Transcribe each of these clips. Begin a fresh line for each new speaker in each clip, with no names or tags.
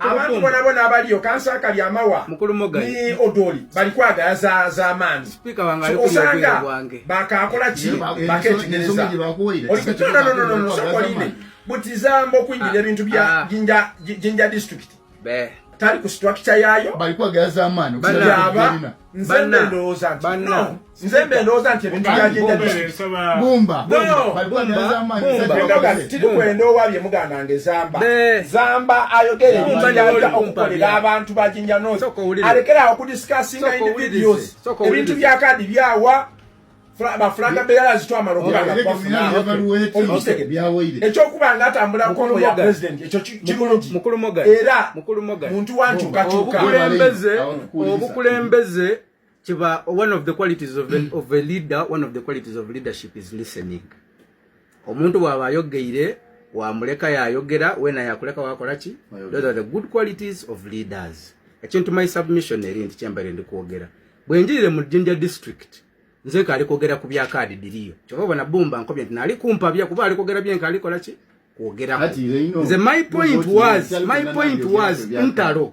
abantu
bona bona abaliyo kansa akali amawa ni odoli bali kwagala za za mani osanga
bakakola ki
baketegereza no no no no sokoline butizambo kuingira ah, ebintu bya ah. jinja jinja district be tali ku structure yayo bali kwagala za mani
bana bana
bana nze mbe ndowooza nti ebintu
byagendatirikuenda owabye
muganda nge zamba zamba ayogere ebintuyaja okukolera abantu bajinja nos alekera awo kudiscussinga individuals ebintu byakadi byawa bafulanga beyala zitwamala okubaekyokuba nga atambula kongo ya president ekyo kirungi era muntu wankyukakyuka obukulembeze
kiba one of the qualities of a, mm. of a leader one of the qualities of leadership is listening omuntu bwaba ayogeire wamuleka yayogera wena yakuleka wakola ki those are the good qualities of leaders ekintu my submission eri nti kyembere ndi kwogera bwe njirire mu jinja district nze kali kwogera ku bya kaadi diriyo kyova obona bumba nkobye nti nali kumpabya kuba ali kwogera byenka alikola ki kwogera nze my point was my point was ntalo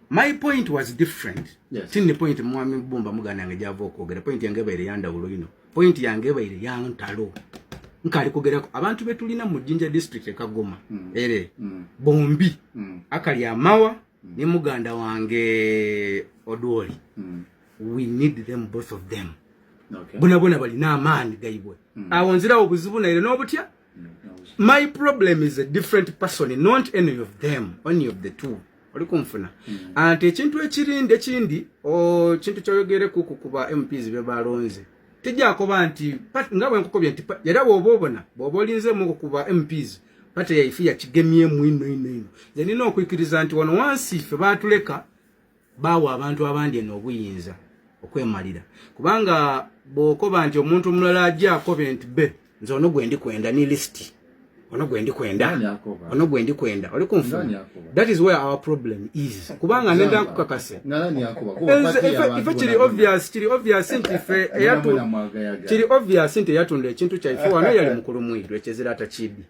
my point was different yes. tini point mwami bumba mugana nge java okwogera point yange baire yanda ulo ino point yange baire yantalo nkali kugera abantu betulina mu jinja district e kagoma mm. ere mm. bombi mm. akali amawa mm. ni muganda wange odwoli mm. we need them both of them okay. bona bona bali na amani gaibwe mm. awonzira obuzibu na ile nobutya my problem is a different person not any of them any of the two oli kunfuna mm. anti ekintu ekirindi ekindi kintu kyoyogere kuku kuba mps byebalonze tejakoba nti nga bwenkukobye nti era bwoba obona bwoba olinzemu okukuba mps pate yaife yakigemyemu ino ino ino zenina okwikiriza nti wano wansi fe batuleka baawa abantu abandi eno obuyinza okwemalira kubanga bwokoba nti omuntu omulala ajja akobe nti be nze ono gwe ndi kwenda ni lisiti ono gwendi kwenda ono gwendi kwenda oli kunfuna that is where our problem is kubanga nenda nkukakase ife kiri obvious kiri obvious nti fe eyatu kiri obvious nti eyatunda ekintu kyaife wano yali mukulu mwiru ekyezira atakibi